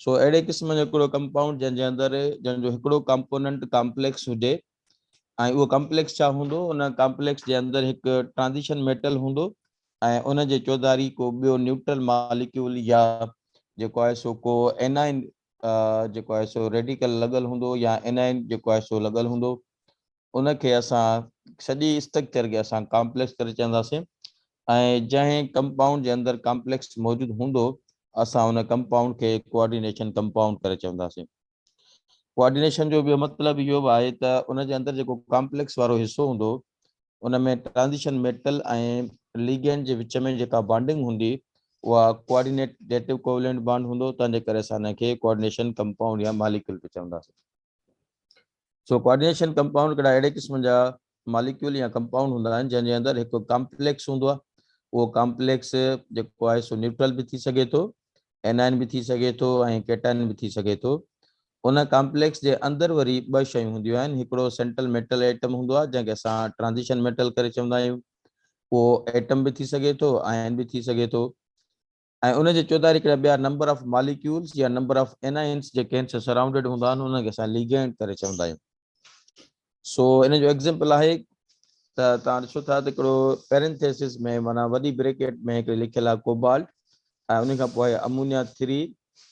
سو اهڙي قسم جو هڪڙو ڪمپائونڊ جنهن جي اندر جنهن جو هڪڙو ڪمپوننٽ ڪامپليڪس هجي ۽ اهو ڪمپليڪس ڇا هوندو ان ڪمپليڪس جي اندر هڪ ٽرانزيشن ميٽل هوندو ۽ ان جي چوڌاري ڪو ٻيو نيوٽرل ماليڪيول يا جيڪو آهي سو ڪو انائن جيڪو آهي سو ريڊيڪل لڳل هوندو يا انائن جيڪو آهي سو لڳل هوندو ان کي اسان سڄي اسٽرڪچر کي اسان ڪامپليڪس ڪري چونداسين ۽ جنهن ڪمپائونڊ جي اندر ڪامپليڪس موجود هوندو اسان ان ڪمپائونڊ کي ڪوآرڊينيشن ڪمپائونڊ ڪري چونداسين ڪوآرڊينيشن جو ٻيو مطلب اهو به آهي ته ان جي اندر جيڪو ڪامپليڪس وارو حصو هوندو ان ۾ ٽرانزيشن ميٽل ۽ ليگينڊ جي وچ ۾ جيڪا بانڊنگ هوندي اها ڪوآرڊينيٽيو ڪوولنٽ بانڊ هوندو تنهن جي ڪري اسان ان کي ڪوآرڊينيشن ڪمپائونڊ يا ماليڪيول به چونداسين سو ڪوآرڊينيشن ڪمپائونڊ ڪھڙا اھڙي قسم جا ماليڪيول يا ڪمپائونڊ ھوندا آھن جنھن جي اندر ھڪ ڪامپليڪس ھوندو آھي اھو ڪامپليڪس جيڪو آھي سو نيوٽرل به ٿي سگھي ٿو اينائن به ٿي سگھي ٿو ۽ ڪيٽائن به ٿي سگھي ٿو ان ڪامپليڪس جي اندر وري ٻه شيون ھونديون آھن ھڪڙو سينٽرل ميٽل ايٽم ھوندو آھي جنھن کي اسان ٽرانزيشن ميٽل ڪري چوندا آھيون اھو ايٽم به ٿي سگھي ٿو آئن به ٿي سگھي ٿو ۽ ان جي چوڌاري ڪهڙا ٻيا نمبر آف ماليڪيولز يا نمبر آف انائنز جيڪي هن سان سرائونڊيڊ هوندا آهن انهن کي اسان ليگينڊ ڪري چوندا آهيون سو ان جو ايگزامپل آهي ته تان ڏسو ٿا ته هڪڙو پيرنٿيسز ۾ معنی وڏي بريڪيٽ ۾ هڪڙي لکيل آهي ڪوبالٽ ۽ ان کان پوء آهي امونيا 3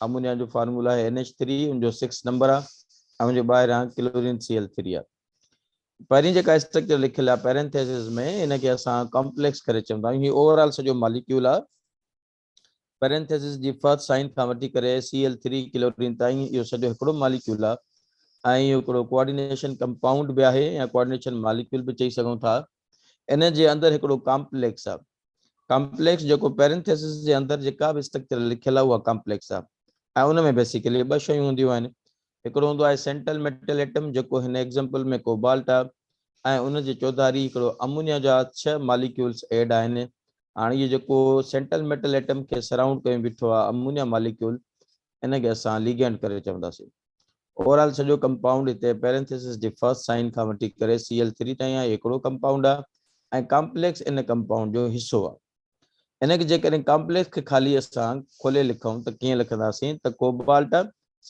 امونيا جو فارمولا آهي NH3 ان جو 6 نمبر آهي ۽ ان جو ٻاهران ڪلورين Cl3 آهي پهرين جيڪا اسٽرڪچر لکيل آهي پيرنٿيسز ۾ ان کي اسان ڪامپليڪس ڪري چوندا آهيون هي اوور آل سڄو ماليڪيول آهي پيرنٿيسز جي فرسٽ سائن کان وٺي ڪري Cl3 ڪلورين تائين اهو سڄو هڪڙو ماليڪيول آهي ۽ اهو هڪڙو ڪوآرڊينيشن ڪمپائونڊ به آهي يا ڪوآرڊينيشن ماليڪيول به چئي سگهون ٿا ان جي اندر هڪڙو ڪامپليڪس آهي ڪامپليڪس جيڪو پيرنٿيسز جي اندر جيڪا به اسٽرڪچر لکيل آهي اها ڪامپليڪس آهي ۽ ان ۾ بيسيڪلي ٻه شيون هونديون آهن هڪڙو هوندو آهي سينٽل ميٽل ايٽم جيڪو هن ايگزيمپل ۾ ڪوبالٽ آهي ۽ ان جي چوڌاري هڪڙو امونيا جا ڇهه ماليڪيولز ايڊ آهن. هاڻ اهو جيڪو سينٽل ميٽل ايٽم کي سرائونڊ ڪيون بيٺو آهي امونيا ماليڪيول ان کي اسان ليگينڊ ڪري چونداسين. اوورآل سڄو ڪمپائونڊ هتي پيرينٿيسز جي فرسٽ سائن کان وٺي ڪري سي ايل ٿري تائين آهي هڪڙو ڪمپائونڊ آهي ۽ ڪامپليڪس ان ڪمپائونڊ جو حصو آهي. ان کي جيڪڏهن ڪامپليڪس کي خاليء سان کولي لکون ته ڪيئن لکنداسين ته cobalt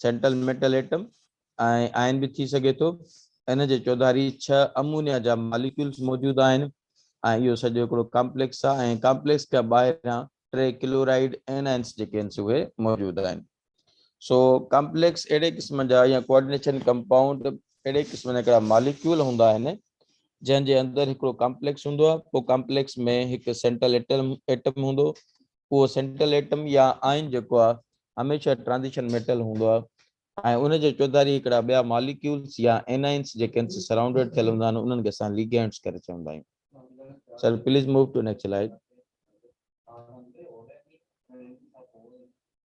central metal atom ۽ ion به ٿي سگهي ٿو. ان جي چوڌاري ڇهه امونيا جا ماليڪيولز موجود آهن ۽ اهو سڄو هڪڙو ڪامپليڪس آهي ۽ ڪامپليڪس کان ٻاهران ٽي ڪلورائيڊ ائنائنز جيڪي آهن سي اهي موجود آهن. سو ڪمپليڪس اهڙي قسم جا يا ڪوآرڊينيشن ڪمپائونڊ اهڙي قسم جا هڪڙا ماليڪيول هوندا آهن جنهن جي اندر هڪڙو ڪمپليڪس هوندو آهي پوء ڪمپليڪس ۾ هڪ سينٽرل ايٽم ايٽم هوندو اهو سينٽرل ايٽم يا آئن جيڪو آهي هميشه ٽرانزيشن ميٽل هوندو آهي ۽ ان جي چوڌاري هڪڙا ٻيا ماليڪيولز يا انائنس جيڪي ان سان سرائونڊيڊ ٿيل هوندا آهن انهن کي اسان ليگينڊز ڪري چوندا آهيون sir please move to next slide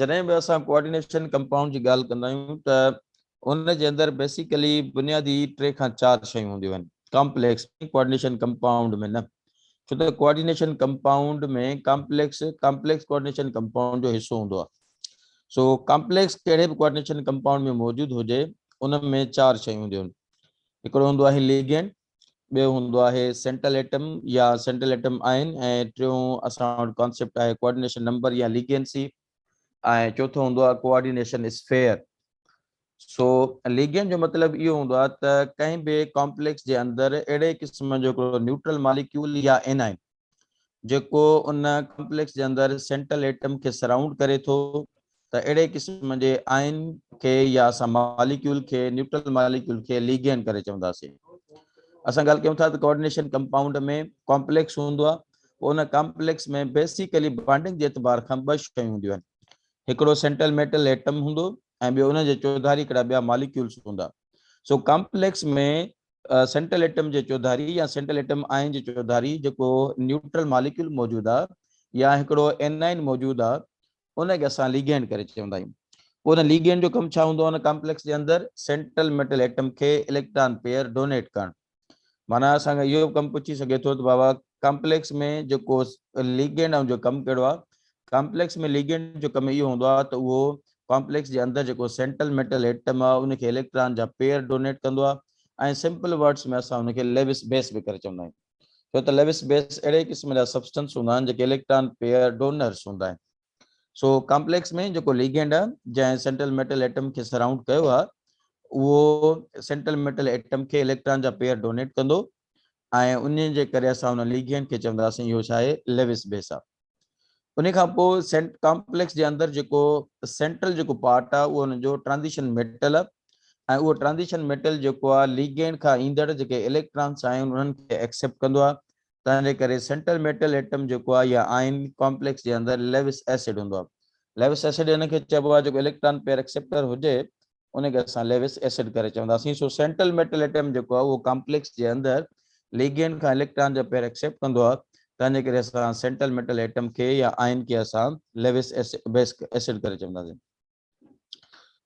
جڏهن به اسان ڪوآرڊينيشن ڪمپائونڊ جي ڳالهه ڪندا آهيون ته ان جي اندر بيسيڪلي بنيادي ٽي کان چار شيون هونديون آهن ڪامپليڪس ۾ ڪوآرڊينيشن ڪمپائونڊ ۾ نه ڇو ته coordination compound ۾ complex complex coordination compound جو حصو هوندو آهي سو ڪامپليڪس ڪهڙي به ڪوآرڊينيشن ڪمپائونڊ ۾ موجود هجي ان ۾ چار شيون هونديون آهن هڪڙو هوندو آهي ليگينڊ ٻيو هوندو آهي سينٽرل ايٽم يا سينٽرل ايٽم آئين ۽ ٽيون اسان وٽ ڪانسيپٽ آهي ڪوآرڊينيشن نمبر يا ليگينسي ۽ چوٿون هوندو آهي ڪوآرڊينيشن اسفيئر سو ليگين جو مطلب اهو هوندو آهي ته ڪنهن به ڪامپليڪس جي اندر اهڙي قسم جو هڪڙو نيوٽرل ماليڪيول يا انائن جيڪو ان ڪمپليڪس جي اندر سينٽرل ايٽم کي سرائونڊ ڪري ٿو ته اهڙي قسم جي آئن کي يا اسان ماليڪيول کي نيوٽرل ماليڪيول کي ليگين ڪري چونداسين اسان ڳالهه ڪيون ٿا ته ڪوآرڊينيشن ڪمپائونڊ ۾ ڪمپليڪس هوندو آهي پوء ان ڪمپليڪس ۾ بيسيڪلي بانڊنگ جي اعتبار کان ٻه شيون هونديون آهن هڪڙو سينٽرل ميٽل ايٽم هوندو ۽ ٻيو ان جي چوڌاري هڪڙا ٻيا ماليڪيولس هوندا سو ڪمپليڪس ۾ سينٽرل ايٽم جي چوڌاري يا سينٽرل ايٽم آئن جي چوڌاري جيڪو نيوٽرل ماليڪيول موجود آ يا هڪڙو اينائن موجود آ ان کي اسان ليگينڊ ڪري چوندا آهيون. پوء ان ليگينڊ جو ڪم ڇا هوندو آ ان ڪامپليڪس جي اندر سينٽرل ميٽل ايٽم کي اليڪٽران پيئر ڊونيٽ ڪرڻ. معنيٰ اسان کان اهو به ڪم پڇي سگهي ٿو ته بابا ڪامپليڪس ۾ جيڪو ليگينڊ آ ان جو ڪم ڪهڙو آ؟ ڪامپليڪس ۾ ليگينڊ جو ڪم اهو هوندو آهي ته اهو ڪامپليڪس جي اندر جيڪو سينٽرل ميٽل ايٽم آهي ان کي اليڪٽران جا پيئر ڊونيٽ ڪندو آهي ۽ سمپل ورڊس ۾ اسان ان کي ليوس بيس به ڪري چوندا آهيون ڇو ته ليوس بيس اهڙي قسم جا سبسٽنس هوندا آهن جيڪي اليڪٽران پيئر ڊونرس هوندا آهن سو ڪامپليڪس ۾ جيڪو ليگينڊ آهي جنهن سينٽرل ميٽل ايٽم کي سرائونڊ ڪيو آهي اهو سينٽرل ميٽل ايٽم کي اليڪٽران جا پيئر ڊونيٽ ڪندو ۽ انهيء جي ڪري اسان ان ليگيئن کي چونداسين اهو ڇا آهي ليوس بيسا انهيء کان پوء سينٽ ڪامپليڪس جي اندر جيڪو سينٽرل جيڪو پارٽ آهي اهو ان جو ٽرانزيشن ميٽل آهي ۽ اهو ٽرانزيشن ميٽل جيڪو آهي ليگيئن کان ايندڙ جيڪي اليڪٽرانس آهن انهن کي ايڪسيپٽ ڪندو آهي تنهن جي ڪري سينٽرل ميٽل ايٽم جيڪو آهي يا آئن ڪامپليڪس جي اندر ليوس ايسڊ هوندو آهي ليوس ايسڊ ان کي چئبو آهي جيڪو اليڪٽران پيئر ايڪسيپٽر هجي ان کي اسان ليوس ايسڊ ڪري چونداسين. سو سينٽرل ميٽل ايٽم جيڪو آهي اهو ڪامپليڪس جي اندر ليگينڊ کان اليڪٽران جا پيئر ايڪسيپٽ ڪندو آهي تنهن جي ڪري اسان سينٽرل ميٽل ايٽم کي يا آئن کي اسان ليوس ايسڊ ڪري چونداسين.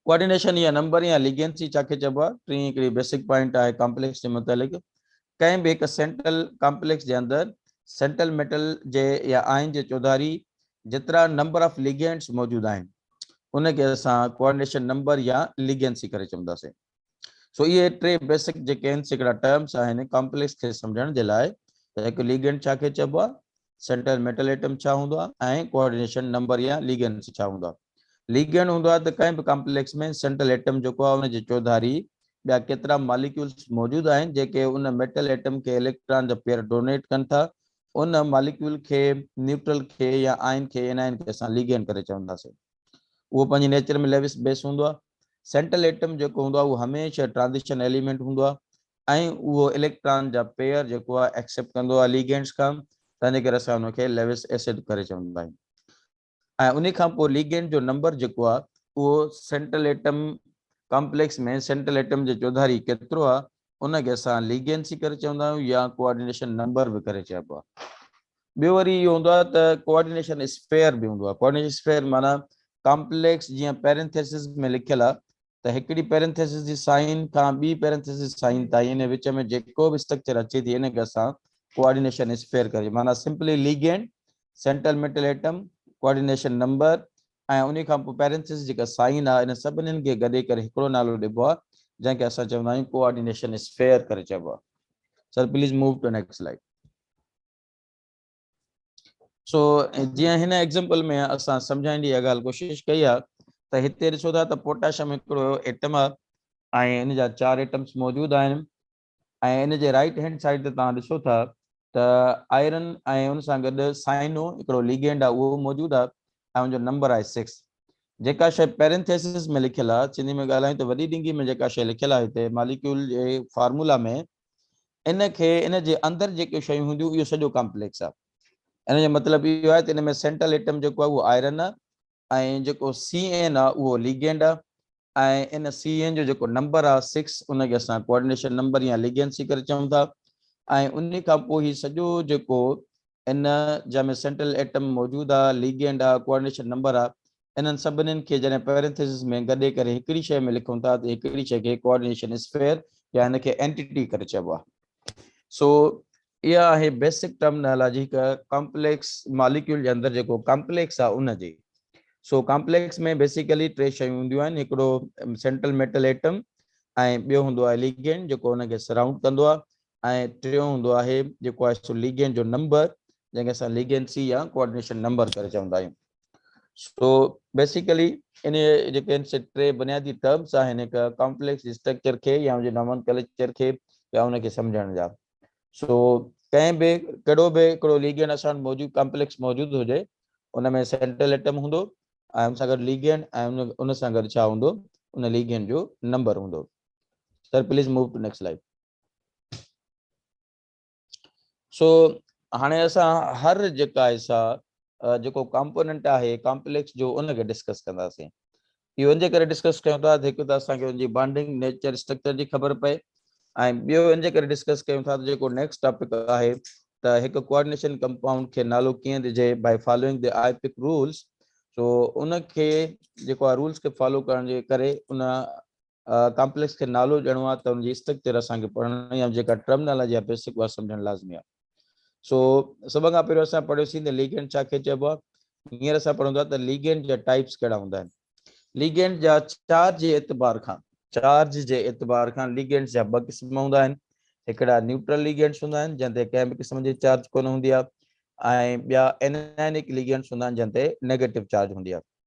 ڪوآرڊينيشن يا نمبرنگ يا ليگينسي ڇا کي چئبو آهي؟ ٽين هڪڙي بيسڪ پوائنٽ آهي ڪامپليڪس جي متعلق. ڪنهن به هڪ سينٽرل ڪامپليڪس جي اندر سينٽرل ميٽل جي يا آئن جي چوڌاري جيترا نمبر آف ليگينڊز موجود آهن. ان کي اسان ڪوآرڊينيشن نمبر يا ليگينسي ڪري چونداسين. سو اهي ٽي بيسڪ جيڪي آهن سي هڪڙا ٽرمس آهن ڪامپليڪس کي سمجهڻ جي لاء ته هڪ ليگينڊ ڇا کي چئبو آهي، سينٽرل ميٽل ايٽم ڇا هوندو آهي ۽ ڪوآرڊينيشن نمبر يا ليگينسي ڇا هوندو آهي. ليگينڊ هوندو آهي ته ڪنهن به ڪامپليڪس ۾ سينٽرل ايٽم جيڪو آهي ان جي چوڌاري ٻيا ڪيترا ماليڪيولز موجود آهن جيڪي ان ميٽل ايٽم کي اليڪٽران جا پيئر ڊونيٽ ڪن ٿا ان ماليڪيول کي نيوٽرل کي يا آئن کي Anion کي اسان ليگين ڪري چونداسين. اهو پنهنجي نيچر ۾ ليوس بيس هوندو آهي. سينٽرل ايٽم جيڪو هوندو آهي اهو هميشه ٽرانزيشن ايليمينٽ هوندو آهي ۽ اهو اليڪٽران جا پيئر جيڪو آهي ايڪسيپٽ ڪندو آهي ليگينٽس کان تنهنجي ڪري اسان ان کي ليوس ايسڊ ڪري چوندا آهيون. ۽ انهي کان پوء ليگينڊ جو نمبر جيڪو آهي اهو central atom complex ۾ central atom جي چوڌاري ڪيترو آهي ان کي اسان ليگينسي ڪري چوندا آهيون يا ڪوآرڊينيشن نمبر به ڪري چئبو آهي ٻيو وري اهو هوندو آهي ته ڪوآرڊينيشن اسفيئر به هوندو آهي ڪوآرڊينيشن اسفيئر معنيٰ ڪامپليڪس جيئن پيرنٿيسز ۾ لکيل آهي ته هڪڙي پيرنٿيسز جي سائين کان ٻي پيرنٿيسز جي سائين تائين ان وچ ۾ جيڪو به اسٽرڪچر اچي ٿي ان کي اسان ڪوآرڊينيشن اسفيئر ڪري معنيٰ simply ligand central metal atom coordination number ۽ ان کان پوء پيرنٿيسز جيڪا سائين آهي ان سڀنين کي گڏي ڪري هڪڙو نالو ڏبو آهي جنهن کي اسان چوندا آهيون ڪوآرڊينيشن اسفيئر ڪري چئبو آهي sir please move to next slide سو جيئن هن ايگزامپل ۾ اسان سمجهائڻ جي اها ڳالهه ڪوشش ڪئي آهي ته هتي ڏسو ٿا ته پوٽاشم هڪڙو ايٽم آهي ۽ ان جا چار ايٽمس موجود آهن ۽ ان جي رائٽ هينڊ سائيڊ تي توهان ڏسو ٿا ته آئرن ۽ ان سان گڏ سائنو هڪڙو ليگينڊ آهي اهو موجود آهي ۽ ان جو نمبر آهي سڪس جيڪا شيء پيرنٿيسس ۾ لکيل آهي سنڌي ۾ ڳالهايون ته وڏي ڊنگي ۾ جيڪا شيء لکيل آهي هتي ماليڪيول جي فارمولا ۾ ان کي ان جي اندر جيڪي شيون هونديون اهو سڄو ڪامپليڪس آهي ان جو مطلب اهو آهي ته ان ۾ سينٽرل ايٽم جيڪو آهي اهو آئرن آهي ۽ جيڪو سي اين آهي اهو ليگينڊ آهي ۽ ان سي اين جو جيڪو نمبر آهي سڪس ان کي اسان ڪوآرڊينيشن نمبر يا ليگينسي ڪري چئون ٿا ۽ ان کان پوء هي سڄو جيڪو ان جنهن ۾ سينٽرل ايٽم موجود آ، ليگينڊ آ، ڪوآرڊينيشن نمبر آ، انهن سڀنين کي جڏهن پيرينٿيسز ۾ گڏي ڪري هڪڙي شيء ۾ لکون ٿا ته هڪڙي شيء کي ڪوآرڊينيشن اسفيئر يا ان کي اينٽيٽي ڪري چئبو آ. سو اها آهي بيسڪ ٽرمنالاجي هڪ ڪامپليڪس ماليڪيول جي اندر جيڪو ڪامپليڪس آ ان جي. سو ڪامپليڪس ۾ بيسيڪلي ٽي شيون هونديون آهن هڪڙو سينٽرل ميٽل ايٽم ۽ ٻيو هوندو آهي ليگينڊ جيڪو ان کي سرائونڊ ڪندو آ ۽ ٽيون هوندو آهي جيڪو آهي سو ليگينڊ جو نمبر جنهن کي اسان ليگينسي يا ڪوآرڊينيشن نمبر ڪري چوندا آهيون سو بيسيڪلي ان جيڪي آهن سي ٽي بنيادي ٽرمس آهن هڪ ڪامپليڪس اسٽرڪچر کي يا ان جي نامن ڪلچر کي يا ان کي سمجهڻ جا سو ڪنهن به ڪهڙو به هڪڙو ليگينڊ اسان موجود ڪامپليڪس موجود هجي ان ۾ سينٽرل ايٽم هوندو ۽ ان سان گڏ ليگينڊ ۽ ان سان گڏ ڇا هوندو ان ليگينڊ جو نمبر هوندو sir please move to next slide سو هاڻي اسان هر جيڪا حصا جيڪو ڪامپوننٽ آهي ڪامپليڪس جو ان کي ڊسڪس ڪنداسين اهو ان جي ڪري ڊسڪس ڪيون ٿا ته هڪ ته اسان کي ان جي بانڊنگ نيچر اسٽرڪچر جي خبر پئي ۽ ٻيو ان جي ڪري ڊسڪس ڪيون ٿا ته جيڪو نيڪسٽ ٽاپڪ آهي ته هڪ ڪوآرڊينيشن ڪمپائونڊ کي نالو ڪيئن ڏجي by following the IUPAC rules سو ان کي جيڪو رولس کي فالو ڪرڻ جي ڪري ان ڪامپليڪس کي نالو ڏيڻو آهي ته ان جي اسٽرڪچر اسان کي پڙهڻ يا جيڪا ٽرمنالاجي آهي بيسڪ اها سمجهڻ لازمي آهي سو سڀ کان پهريون اسان پڙهيوسين ته ليگنڊ ڇا کي چئبو آهي هينئر اسان پڙهون ٿا ته ليگنڊ جا ٽائپس ڪهڙا هوندا آهن ليگنڊ جا چارج جي اعتبار کان چارج جي اعتبار کان ليگنڊ جا ٻه قسم هوندا آهن هڪڙا نيوٽرل ليگنڊس هوندا آهن جن تي ڪنهن به قسم جي چارج ڪونه هوندي آهي ۽ ٻيا انائنڪ ليگنڊس هوندا آهن جن تي نيگيٽو چارج هوندي آهي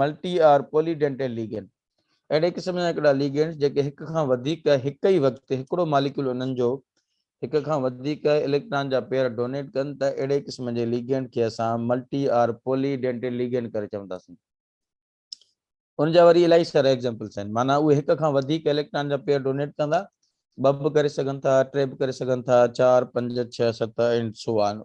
multi or polydentate ligand, اهڙي قسم جا هڪڙا ليگينڊز جيڪي هڪ کان وڌيڪ هڪ ئي وقت تي هڪڙو ماليڪيول انهن جو هڪ کان وڌيڪ اليڪٽران جا پيئر ڊونيٽ ڪن ته اهڙي قسم جي ليگينڊ کي اسان multi or polydentate ligand ڪري چونداسين. ان جا وري الائي سارا ايگزامپلز آهن معنيٰ اهي هڪ کان وڌيڪ اليڪٽران جا پيئر ڊونيٽ ڪندا، ٻه به ڪري سگهن ٿا، ٽي به ڪري سگهن ٿا، چار، پنج، ڇهه، ست، and so on.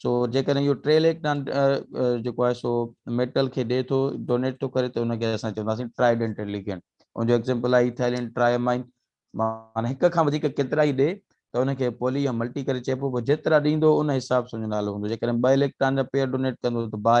سو جيڪڏهن اهو ٽي ليڪ ٽن جيڪو آهي سو ميٽل کي ڏي ٿو ڊونيٽ ٿو ڪري ته ان کي اسان چونداسين ٽرائي ڊينٽل ليگينڊ ان جو ايگزامپل آهي ايٿائلين ٽرائمائن معنی هڪ کان وڌيڪ ڪيترا ئي ڏي ته ان کي پولي يا ملٽي ڪري چئبو پوء جيترا ڏيندو ان حساب سان جو نالو هوندو جيڪڏهن ٻه اليڪٽران جا پيئر ڊونيٽ ڪندو ته باء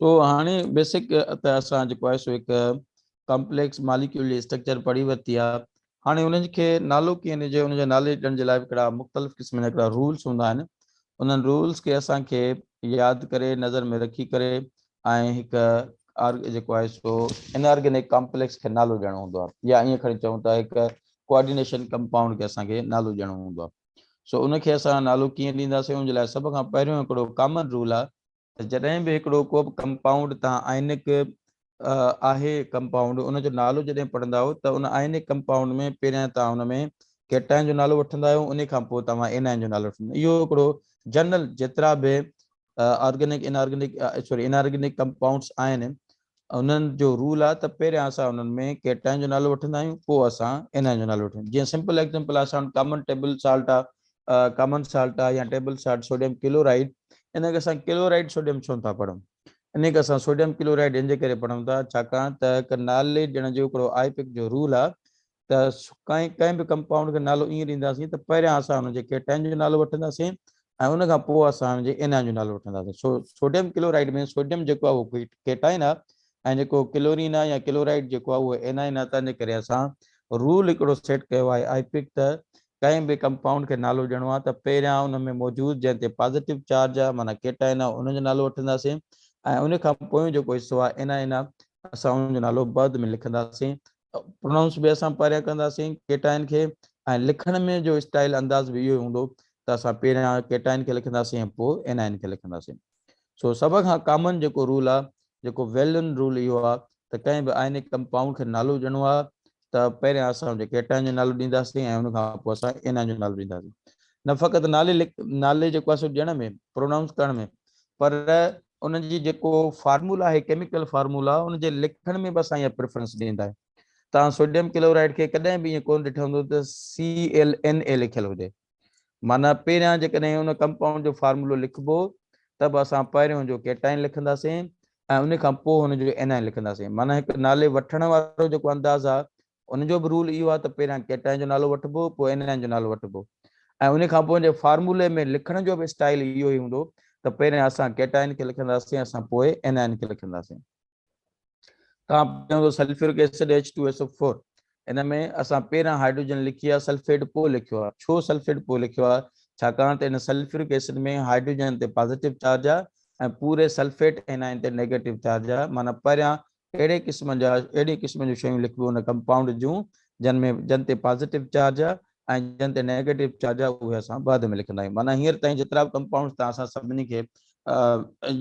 سو هاڻي بيسڪ ته اسان جيڪو آهي سو هڪ ڪمپليڪس ماليڪيول جي اسٽرڪچر پڙهي ورتي آهي هاڻي انهن کي نالو ڪيئن ڏجي ان جو نالي ڏيڻ جي لاء هڪڙا مختلف قسم جا هڪڙا رولز هوندا آهن انهن رولز کي اسان کي ياد ڪري نظر ۾ رکي ڪري ۽ هڪ جيڪو آهي سو ان آرگينڪ ڪمپليڪس کي نالو ڏيڻو هوندو آهي يا ائين کڻي چئون ته هڪ ڪوآرڊينيشن ڪمپائونڊ کي اسان کي نالو ڏيڻو هوندو آهي سو ان کي اسان نالو ڪيئن ڏينداسين ان جي لاء سڀ کان پهريون هڪڙو ڪامن رول آهي ته جڏهن به هڪڙو ڪو به ڪمپائونڊ تان آئنڪ آهي ڪمپائونڊ ان جو نالو جڏهن پڙهنداو ته ان آئنڪ ڪمپائونڊ ۾ پهريان تان ان ۾ ڪيٽائن جو نالو وٺندا آهيو ان کان پوء توهان انائن جو نالو وٺندا اهو هڪڙو جنرل جيترا به organic inorganic sorry inorganic compounds آهن انهن جو رول آهي ته پهريان اسان انهن ۾ ڪيٽائن جو نالو وٺندا آهيون پوء اسان انائن جو نالو وٺندا آهيون جيئن سمپل ايگزامپل اسان وٽ ڪامن ٽيبل سالٽ آهي ڪامن سالٽ آهي يا ٽيبل سالٽ سوڊيم ڪلورائيڊ ان کي اسان ڪلورائيڊ سوڊيم ڇو نٿا پڙهون ان کي اسان سوڊيم ڪلورائيڊ ان جي ڪري پڙهون ٿا ڇاڪاڻ ته هڪ نالي ڏيڻ جو هڪڙو آئي پيڪ جو رول آهي ته ڪنهن ڪنهن به ڪمپائونڊ کي نالو ائين ڏينداسين ته پهريان اسان ان جي ڪيٽائن جو نالو وٺنداسين ۽ ان کان پوء اسان ان جي انائن جو نالو وٺنداسين سو سوڊيم ڪلورائيڊ ۾ سوڊيم جيڪو آهي اهو ڪيٽائن آهي ۽ جيڪو ڪلورين آهي يا ڪلورائيڊ جيڪو آهي اهو انائن آهي تنهنجي ڪري اسان رول هڪڙو سيٽ ڪيو آهي آئي پڪ ته ڪنهن به ڪمپائونڊ کي نالو ڏيڻو آهي ته پهريان ان ۾ موجود جنهن تي پازيٽو چارج آهي معنيٰ ڪيٽائن آهي ان جو نالو وٺنداسين ۽ ان کان پويون جيڪو حصو آهي انائن آهي اسان ان جو نالو بعد ۾ لکنداسين پروننس به اسان پريا ڪنداسين ڪيٽائن کي ۽ لکڻ ۾ جو اسٽائل انداز به اهو ئي هوندو ته اسان پهريان ڪيٽائن کي لکنداسين ۽ پوء انائن کي لکنداسين سو سڀ کان ڪامن جيڪو رول آهي جيڪو ويل نون رول اهو آهي ته ڪنهن به آئنڪ ڪمپائونڊ کي نالو ڏيڻو آهي ته پهريان اسان ان کي ڪيٽائن جو نالو ڏينداسين ۽ ان کان پوء اسان انائن جو نالو ڏينداسين نه فقط نالي نالي جيڪو آهي سو ڏيڻ ۾ پروننس ڪرڻ ۾ پر ان جي جيڪو فارمولا آهي ڪيميڪل فارمولا ان جي لکڻ ۾ به اسان اها پريفرنس ڏيندا آهيون تان سوڊيم ڪلورائيڊ کي ڪڏهن به ايئن ڪون ڏٺو هوندو ته CLNA لکيل هجي معنی پهريان جيڪڏهن ان ڪمپائونڊ جو فارمولو لکبو ته به اسان پهريون جو ڪيٽائن لکنداسين ۽ ان کان پوء هن جو انائن لکنداسين معنی هڪ نالي وٺڻ وارو جيڪو انداز آهي ان جو به رول اهو آهي ته پهريان ڪيٽائن جو نالو وٺبو پوء انائن جو نالو وٺبو ۽ ان کان پوء ان جي فارمولي ۾ لکڻ جو به اسٽائل اهو ئي هوندو ته پهريان اسان ڪيٽائن کي لکنداسين اسان پوء انائن کي لکنداسين تان پهريان سلفيورڪ ايسڊ H2SO4 ان ۾ اسان پهريان هائڊروجن لکي آ سلفيٽ پوء لکيو آ ڇو سلفيٽ پوء لکيو آ ڇاڪاڻ ته ان سلفيورڪ ايسڊ ۾ هائڊروجن تي پازيٽو چارج آ ۽ پوري سلفيٽ انائن تي نيگيٽو چارج آ معنيٰ پهريان اهڙي قسم جا اهڙي قسم جون شيون لکبيون ان ڪمپائونڊ جون جن ۾ جن تي پازيٽو چارج آهي ۽ جن تي نيگيٽو چارج آهي اهي اسان بعد ۾ لکندا آهيون معنيٰ هينئر تائين جيترا به ڪمپائونڊز تان اسان سڀني کي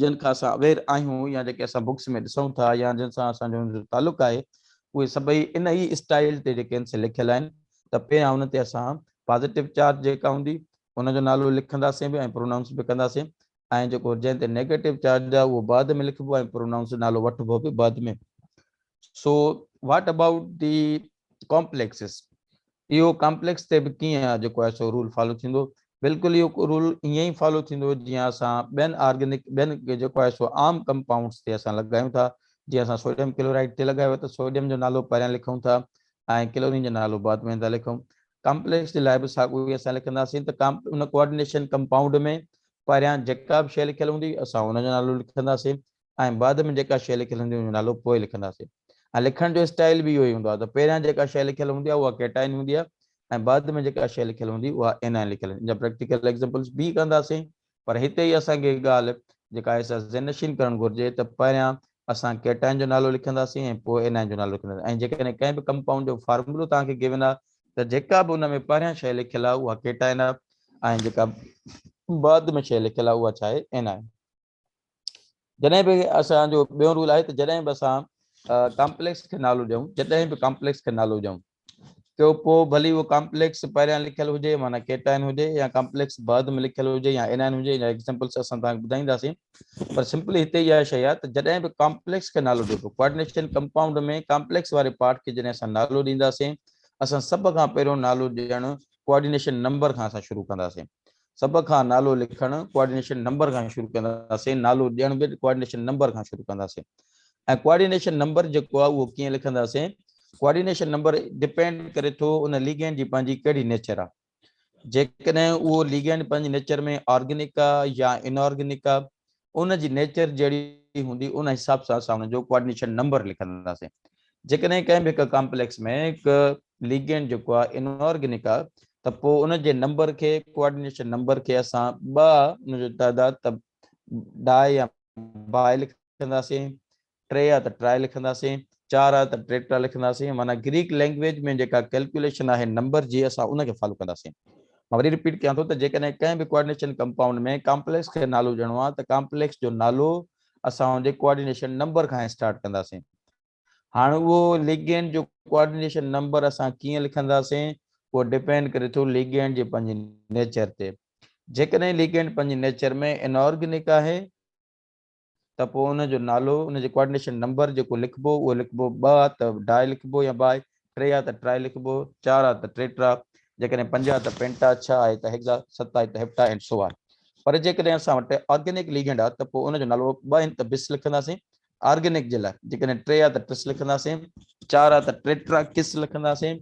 جن کان اسان اوير آهيون يا جيڪي اسان بڪس ۾ ڏسون ٿا يا جن سان اسان جو تعلق آهي اهي سڀئي ان ئي اسٽائيل تي جيڪي سي لکيل آهن ته پهريان ان تي اسان پازيٽو چارج جيڪا هوندي ان جو نالو لکنداسين به ۽ پرونائونس به ڪنداسين ۽ جيڪو جنهن تي نيگيٽو چارج آهي اهو بعد ۾ لکبو ۽ پرونائونس نالو وٺبو به بعد ۾ so what about the complexes اهو ڪامپليڪس تي به ڪيئن آهي جيڪو آهي سو رول فالو ٿيندو بلڪل اهو رول ائين ئي فالو ٿيندو جيئن اسان ٻين آرگينڪ ٻين جيڪو آهي سو عام ڪمپائونڊس تي اسان لڳايون ٿا جيئن اسان سوڊيم ڪلورائڊ تي لڳايو ته سوڊيم جو نالو پهريان لکون ٿا ۽ ڪلورين جو نالو بعد ۾ ٿا لکون ڪامپليڪس جي لاء به ساڳيو ئي اسان لکنداسين ته ان ڪوآرڊينيشن ڪمپائونڊ ۾ پهريان جيڪا به شيء لکيل هوندي اسان ان جو نالو لکنداسين ۽ بعد ۾ جيڪا شيء لکيل هوندي ان جو نالو پوء لکنداسين ۽ لکڻ جو اسٽائيل به اهو ئي هوندو آهي ته پهريان جيڪا شيء لکيل هوندي آهي اها ڪيٽائين هوندي آهي ۽ بعد ۾ جيڪا شيء لکيل هوندي اها اينائين لکيل هوندي آهي ان جا پريڪٽيڪل ايگزامپلز به ڪنداسين پر هتي ئي اسان کي هڪ ڳالهه جيڪا احساس ذهن نشين ڪرڻ گهرجي ته پهريان اسان ڪيٽائن جو نالو لکنداسين ۽ پوء انائن جو نالو لکنداسين ۽ جيڪڏهن ڪنهن به ڪمپائونڊ جو فارمولو توهان کي گيون آهي ته جيڪا به ان ۾ پهريان شيء لکيل آهي اها ڪيٽائن آهي ۽ جيڪا بعد ۾ شيء لکيل آهي اها ڇا آهي؟ انائن. جڏهن به اسان جو ٻيو رول آهي ته جڏهن به اسان ڪامپليڪس کي نالو ڏيون جڏهن به ڪامپليڪس کي نالو ڏيون ته پوء ڀلي اهو ڪامپليڪس پهريان لکيل هجي معنيٰ ڪيٽائن هجي يا ڪامپليڪس بعد ۾ لکيل هجي يا انائن هجي يا ايگزامپلس اسان تان ٻڌائينداسين پر سمپلي هتي اها شيء آهي ته جڏهن به ڪامپليڪس کي نالو ڏبو ڪوآرڊينيشن ڪمپائونڊ ۾ ڪامپليڪس واري پارٽ کي جڏهن اسان نالو ڏينداسين اسان سڀ کان پهريون نالو ڏيڻ ڪوآرڊينيشن نمبر کان اسان شروع ڪنداسين سڀ کان نالو لکڻ ڪوآرڊينيشن نمبر کان شروع ڪنداسين نالو ڏيڻ به ڪوآرڊينيشن نمبر کان شروع ڪنداسين ۽ ڪوآرڊينيشن نمبر جيڪو آهي اهو ڪيئن لکنداسين ڪوآرڊينيشن نمبر ڊپينڊ ڪري ٿو ان ليگينڊ جي پنهنجي ڪهڙي نيچر آهي جيڪڏهن اهو ليگينڊ پنهنجي نيچر ۾ آرگينڪ آهي يا انآرگينڪ آهي ان جي نيچر جهڙي هوندي ان حساب سان اسان ان جو ڪوآرڊينيشن نمبر لکنداسين جيڪڏهن ڪنهن به هڪ ڪامپليڪس ۾ هڪ ليگينڊ جيڪو آهي انارگنڪ آهي ته پوء ان جي نمبر کي ڪوآرڊينيشن نمبر کي اسان ٻه ان جو تعداد ته ڊاء يا باء لکنداسين ٽي آ ته ٽرائي لکنداسين، چار آ ته ٽريٽرا لکنداسين، معنيٰ گريڪ لئنگئيج ۾ جيڪا ڪئلڪيوليشن آهي نمبر جي اسان ان کي فالو ڪنداسين. مان وري رپيٽ ڪيان ٿو ته جيڪڏهن ڪنهن به ڪوآرڊينيشن ڪمپائونڊ ۾ ڪامپليڪس کي نالو ڏيڻو آهي ته ڪامپليڪس جو نالو اسان ان جي ڪوآرڊينيشن نمبر کان اسٽارٽ ڪنداسين. هاڻ اهو ليگينڊ جو ڪوآرڊينيشن نمبر اسان ڪيئن لکنداسين اهو ڊپينڊ ڪري ٿو ليگينڊ جي پنهنجي نيچر تي. جيڪڏهن ليگينڊ پنهنجي نيچر ۾ انآرگنڪ آهي، ته پوء ان جو نالو ان جي ڪوآرڊينيشن نمبر جيڪو لکبو اهو لکبو ٻه آ ته ڊائي لکبو يا بائي ٽي آ ته ٽرائي لکبو چار آ ته ٽيٽرا جيڪڏهن پنج آ ته پينٽا ڇهه آهي ته هيگزا ست آهي ته هيپٽا اينڊ سو آن پر جيڪڏهن اسان وٽ آرگينڪ ليگنڊ آ ته پوء ان جو نالو ٻه آهن ته بس لکنداسين آرگينڪ جي لاء جيڪڏهن ٽي آ ته ٽس لکنداسين چار آ ته ٽيٽرا ڪس لکنداسين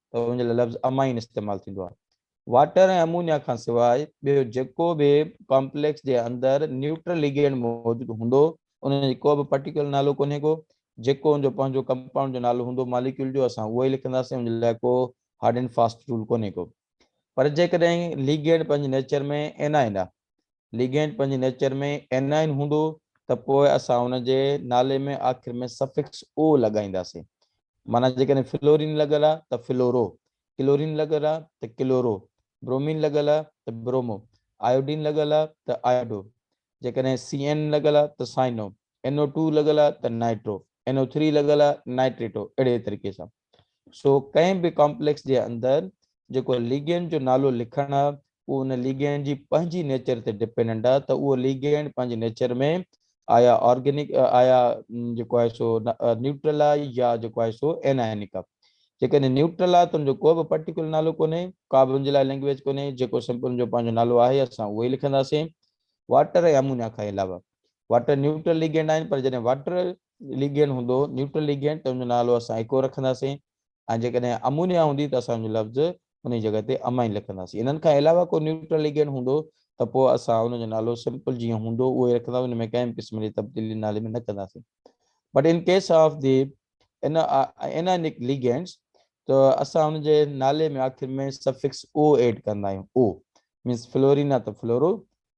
ته ان لاء لفظ امائين استعمال ٿيندو آهي. واٽر ۽ امونيا کان سواء ٻيو جيڪو به ڪامپليڪس جي اندر نيوٽرل ليگينڊ موجود هوندو ان جي ڪو به پرٽيڪولر نالو ڪونهي ڪو جيڪو ان جو پنهنجو ڪمپائونڊ جو نالو هوندو ماليڪيول جو اسان اهو ئي لکنداسين ان لاء ڪو هارڊ اينڊ فاسٽ رول ڪونهي ڪو پر جيڪڏهن ليگينڊ پنهنجي نيچر ۾ انائن آهي ليگينڊ پنهنجي نيچر ۾ ائنائن هوندو ته پوء اسان ان جي نالي ۾ آخر ۾ سفڪس او لڳائينداسين. معنيٰ جيڪڏهن فلورين لڳل آهي ته فلورو، ڪلورين لڳل آهي ته ڪلورو، برومين لڳل آهي ته برومو، آيوڊين لڳل آهي ته آيڊو، جيڪڏهن سي اين لڳل آهي ته سائنو، اين او ٽو لڳل آهي ته نائٽرو، اين او ٿري لڳل آهي نائٽريٽو، اهڙي طريقي سان. سو ڪنهن به ڪامپليڪس جي اندر جيڪو ليگينڊ جو نالو لکڻ آ اهو ان ليگينڊ جي پنهنجي نيچر تي ڊپينڊنٽ آ ته اهو ليگينڊ پنهنجي نيچر ۾ آيا آرگينڪ آيا جيڪو آهي سو نيوٽرل آ يا جيڪو آهي سو انائنڪ آ جيڪڏهن نيوٽرل آ ته ان جو ڪو به پرٽيڪولر نالو ڪونهي ڪا به ان جي لاء لينگويج ڪونهي جيڪو سمپل ان جو پنهنجو نالو آهي اسان اهو ئي لکنداسين واٽر ۽ امونيا کان علاوه واٽر نيوٽرل ليگينڊ آهن پر جڏهن واٽر ليگين هوندو نيوٽرل ليگينٽ ته ان جو نالو اسان ايڪو رکنداسين ۽ جيڪڏهن امونيا هوندي ته اسان ان جو لفظ ان جي جڳهه تي امائين لکنداسين انهن کان علاوه ڪو نيوٽرل ليگينٽ هوندو ته پوء اسان ان جو نالو سمپل جيئن هوندو اهو ئي رکنداسين ان ۾ ڪنهن به قسم جي تبديلي نالي ۾ نه ڪنداسين but in case of the ان انائنڪ ليگينٽس ته اسان ان جي نالي ۾ آخر ۾ سفڪس او ايڊ ڪندا آهيون او مينس فلورينا ته فلورو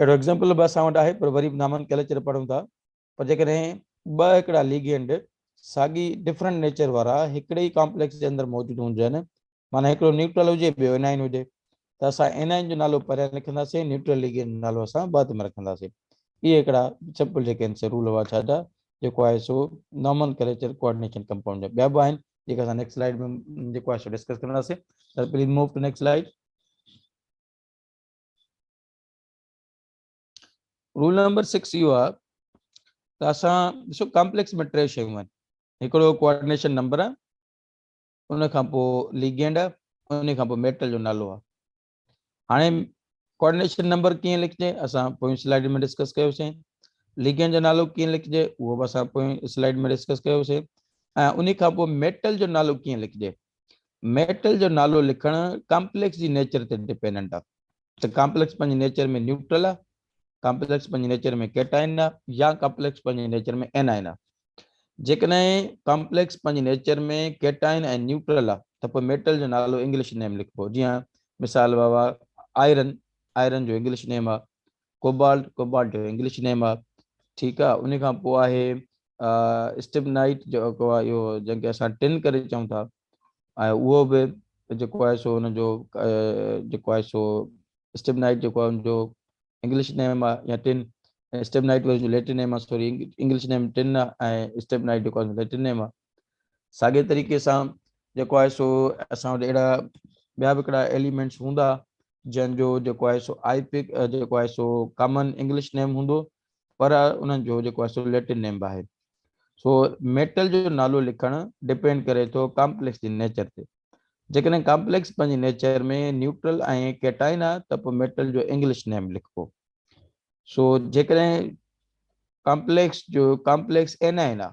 اهڙو ايگزامپل به اسان وٽ آهي پر وري به نامن ڪيل اچر پڙهون ٿا پر جيڪڏهن ٻه هڪڙا ليگينڊ ساڳي ڊفرنٽ نيچر وارا هڪڙي ئي ڪامپليڪس جي اندر موجود هجن معنيٰ هڪڙو نيوٽرل هجي ٻيو انائن هجي ته اسان انائن جو نالو پهريان لکنداسين نيوٽرل ليگينڊ جو نالو اسان بعد ۾ رکنداسين اهي هڪڙا سمپل جيڪي آهن سي رول هئا ڇا جا جيڪو آهي سو نامن ڪريچر ڪوآرڊينيشن ڪمپائونڊ جا ٻيا به آهن جيڪي اسان نيڪسٽ سلائيڊ ۾ جيڪو آهي سو ڊسڪس ڪنداسين please move to next slide rule number 6 اهو آهي ته اسان ڏسو ڪمپليڪس ۾ ٽي شيون آهن هڪڙو ڪوآرڊينيشن نمبر آهي ان کان پوء ليگينڊ آهي ان کان پوء ميٽل جو نالو آهي هاڻي ڪوآرڊينيشن نمبر ڪيئن لکجي اسان پوئين سلائيڊ ۾ ڊسڪس ڪيوسين ليگينڊ جو نالو ڪيئن لکجي اهو به اسان پوئين سلائيڊ ۾ ڊسڪس ڪيوسين ۽ ان کان پوء ميٽل جو نالو ڪيئن لکجي ميٽل جو نالو لکڻ ڪمپليڪس جي نيچر تي ڊپينڊنٽ آهي ته ڪامپليڪس پنهنجي نيچر ۾ نيوٽرل آهي، ڪامپليڪس پنهنجي نيچر ۾ ڪيٽائن آهي يا ڪامپليڪس پنهنجي نيچر ۾ اينائن آهي. جيڪڏهن ڪامپليڪس پنهنجي نيچر ۾ ڪيٽائن ۽ نيوٽرل آهي ته پوء ميٽل جو نالو انگلش نيم لکبو جيئن مثال ووا آئرن آئرن جو انگلش نيم آهي ڪوبالٽ ڪوبالٽ جو انگلش نيم آهي ٺيڪ آهي ان کان پوء آهي اسٽيبنائيٽ جو اهو جنهن کي اسان ٽن ڪري چئون ٿا ۽ اهو به جيڪو آهي سو ان جو جيڪو آهي سو اسٽيبنائيٽ جيڪو آهي ان جو انگلش نيم آهي يا ٽن اسٽيبنائيٽ ويز جو ليٽن نيم آهي سوري انگلش نيم ٽن آهي ۽ اسٽيبنائيٽ جيڪو آهي ليٽن نيم آهي ساڳي طريقي سان جيڪو آهي سو اسان وٽ اهڙا ٻيا به هڪڙا ايليمينٽس هوندا جن جو جيڪو آهي سو آئي پڪ جيڪو آهي سو ڪامن انگلش نيم هوندو پر انهن جو جيڪو آهي سو ليٽن نيمب آهي. سو ميٽل جو نالو لکڻ ڊپينڊ ڪري ٿو ڪامپليڪس جي نيچر تي. جيڪڏهن ڪامپليڪس پنهنجي نيچر ۾ نيوٽرل ۽ ڪيٽائن آهي ته پوء ميٽل جو انگلش نيم لکبو. سو جيڪڏهن ڪامپليڪس جو ڪامپليڪس اينائن آهي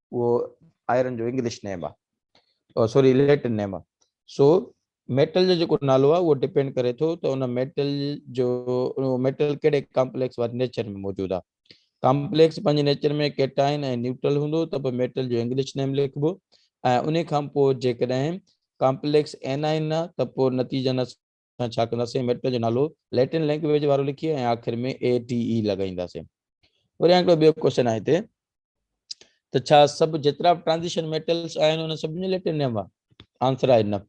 اهو آئرن جو انگلش نيم آ سوري ليٽن نيم آ سو ميٽل جو جيڪو نالو آ اهو ڊپينڊ ڪري ٿو ته ان ميٽل جو ميٽل ڪهڙي ڪامپليڪس واري نيچر ۾ موجود آ ڪامپليڪس پنهنجي نيچر ۾ ڪيٽائن ۽ نيوٽرل هوندو ته به ميٽل جو انگلش نيم لکبو ۽ ان کان پوء جيڪڏهن ڪامپليڪس اينائن نه ته پوء نتيجن سان ڇا ڪنداسين ميٽر جو نالو ليٽن لينگويج وارو لکي ۽ آخر ۾ اي ٽي اي لڳائينداسين وري هڪڙو ٻيو ڪوشچن آهي هتي ته ڇا سڀ جيترا به ٽرانزيشن ميٽلس آهن ان سڀ جو ليٽن نيم آهي آنسر آهي نه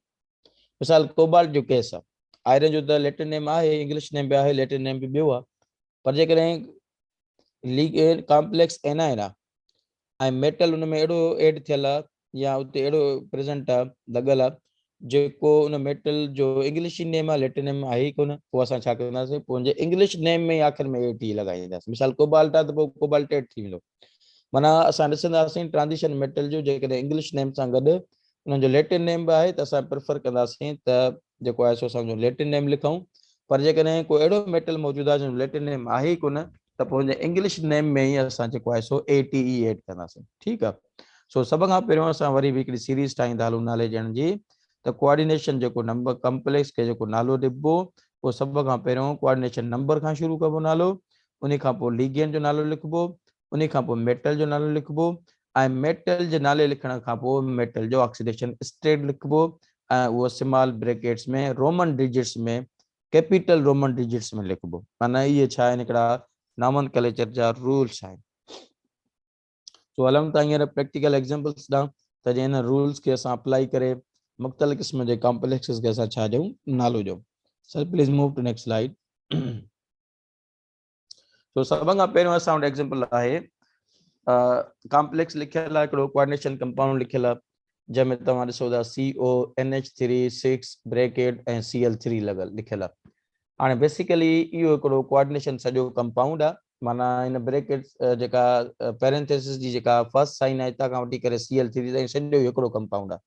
مثال ڪوبالٽ جو ڪيس آهي آئرن جو ته ليٽن نيم آهي انگلش نيم به آهي ليٽن نيم به ٻيو آهي پر جيڪڏهن ڪامپليڪس اينائن آهي ۽ ميٽل ان ۾ اهڙو ايڊ ٿيل آ يا اتي اهڙو پريزنٽ آ لڳل آ جيڪو ان ميٽل جو انگلشي نيم آ ليٽينم آهي ئي ڪونه پوء اسان ڇا ڪنداسين پوء ان جي انگلش نيم ۾ ئي آخر ۾ اي ٽي لڳائينداسين مثال ڪوبالٽ آ ته پوء ڪوبالٽيٽ ٿي ويندو معنيٰ اسان ڏسنداسين ٽرانزيشن ميٽل جو جيڪڏهن انگلش نيم سان گڏ انهن جو ليٽن نيم به آهي ته اسان پريفر ڪنداسين ته جيڪو آهي سو اسان جو ليٽن نيم لکون پر جيڪڏهن ڪو اهڙو ميٽل موجود آهي جنهن جو ليٽن نيم آهي ئي ڪونه ته پوء هن انگلش نيم ۾ ئي اسان جيڪو آهي سو اي ٽي اي ايڊ ڪنداسين ٺيڪ آهي سو سڀ کان پهريون اسان وري به هڪڙي سيريز ٺاهيندا هلون نالي ڏيڻ جي ته ڪوآرڊينيشن جيڪو نمبر ڪمپليڪس کي جيڪو نالو ڏبو پوء سڀ کان پهريون ڪوآرڊينيشن نمبر کان شروع ڪبو نالو ان کان پوء ليگينٽ جو نالو لکبو ان کان پوء ميٽل جو نالو لکبو ۽ ميٽل جي نالي لکڻ کان پوء ميٽل جو آڪسيڊيشن اسٽيٽ لکبو ۽ اهو small brackets ۾ Roman digits ۾ capital Roman digits ۾ لکبو معنيٰ اهي ڇا آهن هڪڙا نامن ڪليچر جا رولس آهن سو هلون ٿا هينئر پريڪٽيڪل ايگزامپلس ڏانهن ته جنهن هن رولس کي اسان اپلائي ڪري مختلف قسم جي ڪامپليڪسز کي اسان ڇا ڏيون نالو ڏيون sir please move to next slide سو سڀن کان پهريون اسان وٽ ايگزامپل آهي ڪامپليڪس لکيل آهي هڪڙو ڪوارڊينيشن ڪمپائونڊ لکيل آهي جنهن ۾ توهان ڏسو ٿا C O N H three six bracket ۽ C L three لڳل لکيل آهي هاڻي بيسيڪلي اهو هڪڙو ڪوارڊينيشن سڄو ڪمپائونڊ آهي معنيٰ هن بريڪيٽ جيڪا پيرنٿيسس جي جيڪا فرسٽ سائن آهي هتان کان وٺي ڪري سي ايل ٿري تائين سڄو هڪڙو ڪمپائونڊ آهي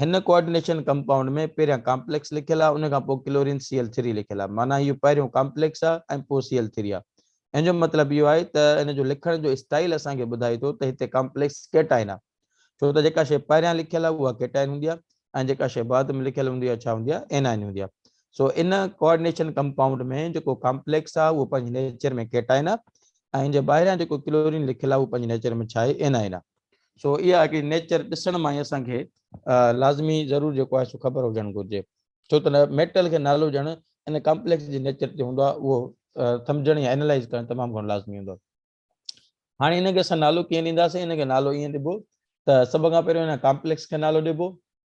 هن ڪوآرڊينيشن ڪمپائونڊ ۾ پهريان ڪامپليڪس لکيل آهي ان کان پوء ڪلورين سي ايل ٿري لکيل آهي معنيٰ اهو پهريون ڪامپليڪس آهي ۽ پوء سي ايل ٿري آهي ان جو مطلب اهو آهي ته ان جو لکڻ جو اسٽائيل اسان کي ٻڌائي ٿو ته هتي ڪامپليڪس ڪيٽائن آهي ڇو ته جيڪا شيء پهريان لکيل آهي اها ڪيٽائن هوندي آهي ۽ جيڪا شيء بعد ۾ لکيل هوندي آهي ڇا هوندي آهي اينائن هوندي آهي سو ان ڪوآرڊينيشن ڪمپائونڊ ۾ جيڪو ڪامپليڪس آهي اهو پنهنجي نيچر ۾ ڪيٽائن آهي ۽ ان جي ٻاهريان جيڪو ڪلورين لکيل آهي اهو پنهنجي نيچر ۾ ڇا آهي اينائن آهي سو اها هڪڙي نيچر ڏسڻ مان ئي اسان کي لازمي ضرور جيڪو آهي سو خبر هجڻ گهرجي ڇو ته ميٽل کي نالو ڏيڻ ان ڪمپليڪس جي نيچر تي هوندو آهي اهو سمجهڻ يا انالائز ڪرڻ تمام گهڻو لازمي هوندو آهي هاڻي ان کي اسان نالو ڪيئن ڏينداسين ان کي نالو ائين ڏبو ته سڀ کان پهريون هن ڪمپليڪس کي نالو ڏبو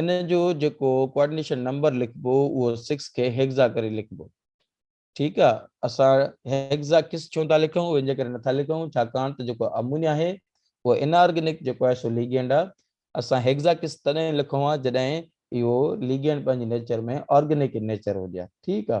ان جو جيڪو ڪوآرڊينيشن نمبر لکبو اهو سڪس کي هيگزا ڪري لکبو ٺيڪ آ اسان هيگزا ڪس ڇو ٿا لکون اهو ان جي ڪري نٿا لکون ڇاڪاڻ ته جيڪو امونيا آهي اهو ان آرگينڪ جيڪو آهي سو ليگينڊ آ اسان هيگزا ڪس تڏهن لکون ها جڏهن اهو ليگينڊ پنهنجي نيچر ۾ آرگينڪ نيچر هجي ها ٺيڪ آ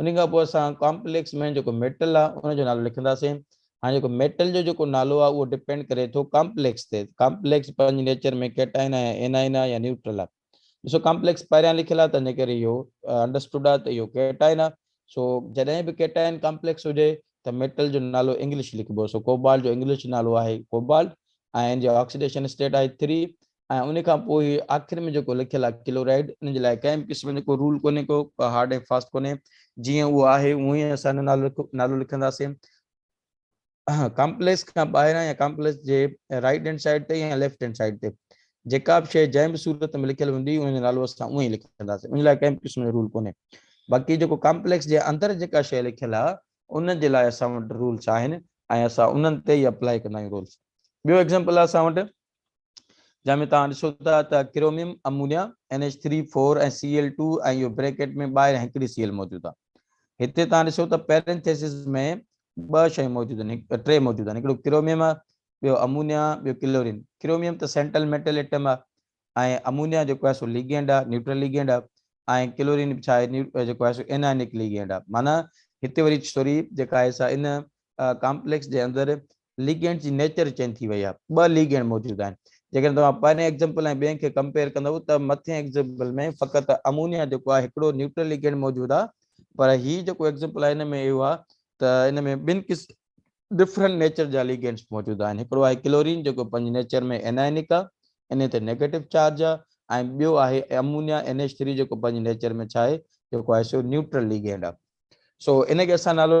انهي کان پوء اسان ڪامپليڪس ۾ جيڪو ميٽل آ ان جو نالو لکنداسين. هاڻي جيڪو ميٽل جو جيڪو نالو آ اهو ڊپينڊ ڪري ٿو ڪامپليڪس تي. ڪامپليڪس پنهنجي نيچر ۾ ڪيٽائن آ يا اينائن آ يا نيوٽرل آ. ڏسو ڪامپليڪس پهريان لکيل آ تنهنجي ڪري اهو انڊرسٽوڊ آ ته اهو ڪيٽائن آ. سو جڏهن به ڪيٽائن ڪامپليڪس هجي ته ميٽل جو نالو انگلش لکبو. سو ڪوبالٽ جو انگلش نالو آهي ڪوبالٽ ۽ ان جي آڪسيڊيشن اسٽيٽ آهي ٿري ۽ ان کان پوء هي آخر ۾ جيڪو لکيل آهي ڪلورائيڊ ان جي لاء ڪنهن به قسم جو ڪو رول ڪونهي ڪو هارڊ ۽ فاسٽ ڪونهي جيئن اهو آهي اونهن ئي اسان هن نالو نالو لکنداسين ڪامپليڪس کان ٻاهران يا ڪامپليڪس جي رائٽ هينڊ سائيڊ تي يا ليفٽ هينڊ سائيڊ تي جيڪا به شيء جنهن به صورت ۾ لکيل هوندي ان جو نالو اسان اونهي لکنداسين ان لاء ڪنهن به قسم جو رول ڪونهي باقي جيڪو ڪامپليڪس جي اندر جيڪا شيء لکيل آهي ان جي لاء اسان وٽ رولس آهن ۽ اسان انهن تي ئي اپلائي ڪندا آهيون رولس ٻيو ايگزامپل اسان وٽ جنهن ۾ توهان ڏسو ٿا ته chromium, ammonia, N H three, four ۽ C L two ۽ اهو بريڪيٽ ۾ ٻاهر هينڪڙي سي ايل موجود آهي. هتي توهان ڏسو ته پيرينٿيسز ۾ ٻه شيون موجود آهن، ٽي موجود آهن، هڪڙو ڪروميم آهي، ٻيو امونيا، ٻيو ڪلورين. ڪروميم ته سينٽل ميٽل ايٽم آهي ۽ امونيا جيڪو آهي سو ليگينڊ آهي، نيوٽرل ليگينڊ آهي ۽ ڪلورين به ڇا آهي جيڪو آهي سو انائنڪ ليگينڊ آهي. معنيٰ هتي وري اسٽوري جيڪا آهي سا ان ڪامپليڪس جي اندر ليگينڊ جي نيچر چينج ٿي وئي آهي ٻه ليگينڊ موجود آهن جيڪڏهن توهان پهرين ايگزمپل ۽ ٻين کي ڪمپيئر ڪندو ته مٿين ايگزمپل ۾ فقط امونيا جيڪو آهي هڪڙو نيوٽرل ليگينڊ موجود آهي پر هي جيڪو ايگزمپل آهي ان ۾ اهو آهي ته ان ۾ ٻن قسم ڊفرنٽ نيچر جا ليگينڊس موجود آهن هڪڙو آهي ڪلورين جيڪو پنهنجي نيچر ۾ انائنڪ آهي ان تي نيگيٽو چارج آهي ۽ ٻيو آهي امونيا ان ايچ ٿري جيڪو پنهنجي نيچر ۾ ڇا آهي جيڪو آهي سو نيوٽرل ليگينڊ آهي سو ان کي اسان نالو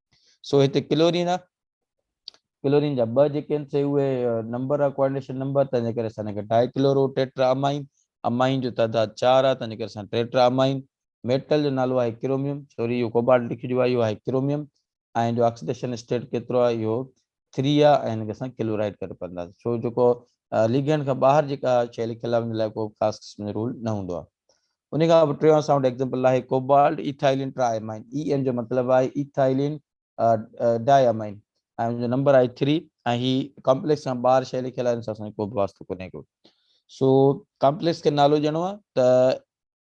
سو هتي ڪلورين آ ڪلورين جا ٻه جيڪي آهن سي اهي نمبر آ ڪوآرڊينيشن نمبر تنهنجي ڪري اسان هن کي ڊائي ڪلورو ٽيٽرا امائين امائين جو تعداد 4 آ تنهنجي ڪري اسان ٽيٽرا امائين ميٽل جو نالو آهي ڪروميم سوري اهو ڪوبالٽ لکجبو آ اهو آهي ڪروميم ۽ جو آڪسيڊيشن اسٽيٽ ڪيترو آ اهو ٿريا ۽ هن کي اسان ڪلورائيڊ ڪري پڙهنداسين ڇو جيڪو ليگينڊ کان ٻاهر جيڪا شيء لکيل آهي ان لاء ڪو خاص قسم جو رول نه هوندو آهي ان کان پوء ٽيون سائونڊ ايگزامپل آهي ڪوبالٽ ايٿائيلين ٽرا امائن اي اين جو مطلب آهي ايٿائيلين ڊاء امائن ۽ ان جو نمبر آهي 3 ۽ هي ڪمپليڪس کان ٻاهر شيء لکيل آهي ان سان اسان جو ڪو به واسطو ڪونهي ڪو سو ڪمپليڪس کي نالو ڏيڻو آهي ته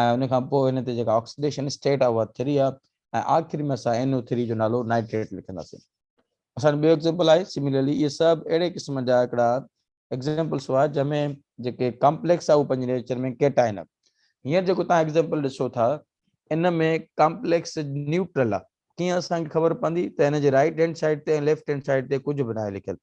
۽ ان کان پوء ان تي جيڪا آڪسيڊيشن اسٽيٽ آهي اها ٿري آهي ۽ آخر ۾ اسان NO ٿري جو نالو نائٽريٽ لکنداسين. اسان جو ٻيو ايگزيمپل آهي سميلرلي اهي سڀ اهڙي قسم جا هڪڙا ايگزيمپلس هئا جنهن ۾ جيڪي ڪامپليڪس آهي اهو پنهنجي نيچر ۾ ڪيٽائن آهي هينئر جيڪو توهان ايگزيمپل ڏسو ٿا ان ۾ ڪامپليڪس نيوٽرل آهي ڪيئن اسان کي خبر پوندي ته هن جي رائٽ هينڊ سائيڊ تي ۽ ليفٽ هينڊ سائيڊ تي ڪجهه به ناهي لکيل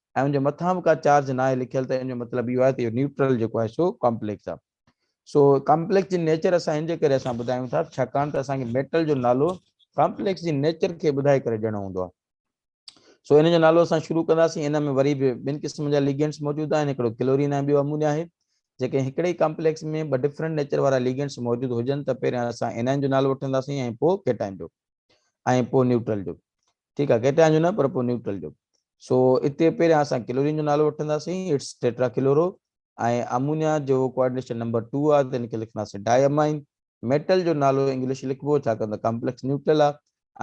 ۽ ان جي مٿان به ڪا چارج ناهي لکيل ته ان جو مطلب اهو آهي ته اهو نيوٽرل جيڪو آهي سو ڪامپليڪس آهي سو ڪامپليڪس جي نيچر اسان ان جي ڪري اسان ٻڌايون ٿا ڇاڪاڻ ته اسان کي ميٽل جو نالو ڪامپليڪس جي نيچر کي ٻڌائي ڪري ڏيڻو هوندو آهي سو ان جو نالو اسان شروع ڪنداسين ان ۾ وري به ٻن قسمن جا ليگنٽس موجود آهن هڪڙو ڪلورين ۽ ٻيو امونيا آهي جيڪي هڪڙي ڪامپليڪس ۾ ٻه ڊفرنٽ نيچر وارا ليگنٽس موجود هجن ته پهريان اسان انائن جو نالو وٺنداسين ۽ پوء ڪيٽائن جو ۽ پوء نيوٽرل جو ٺيڪ آهي ڪيٽائن جو نه پر پوء نيوٽرل جو سو اتي پهريان اسان ڪلورين جو نالو وٺنداسين اٽس ٽيٽرا ڪلورو ۽ امونيا جو ڪوآرڊينيشن نمبر 2 آ تن کي لکنداسين ڊاء امائن ميٽل جو نالو انگلش لکبو ڇا ڪندا ڪمپليڪس نيوٽرل آ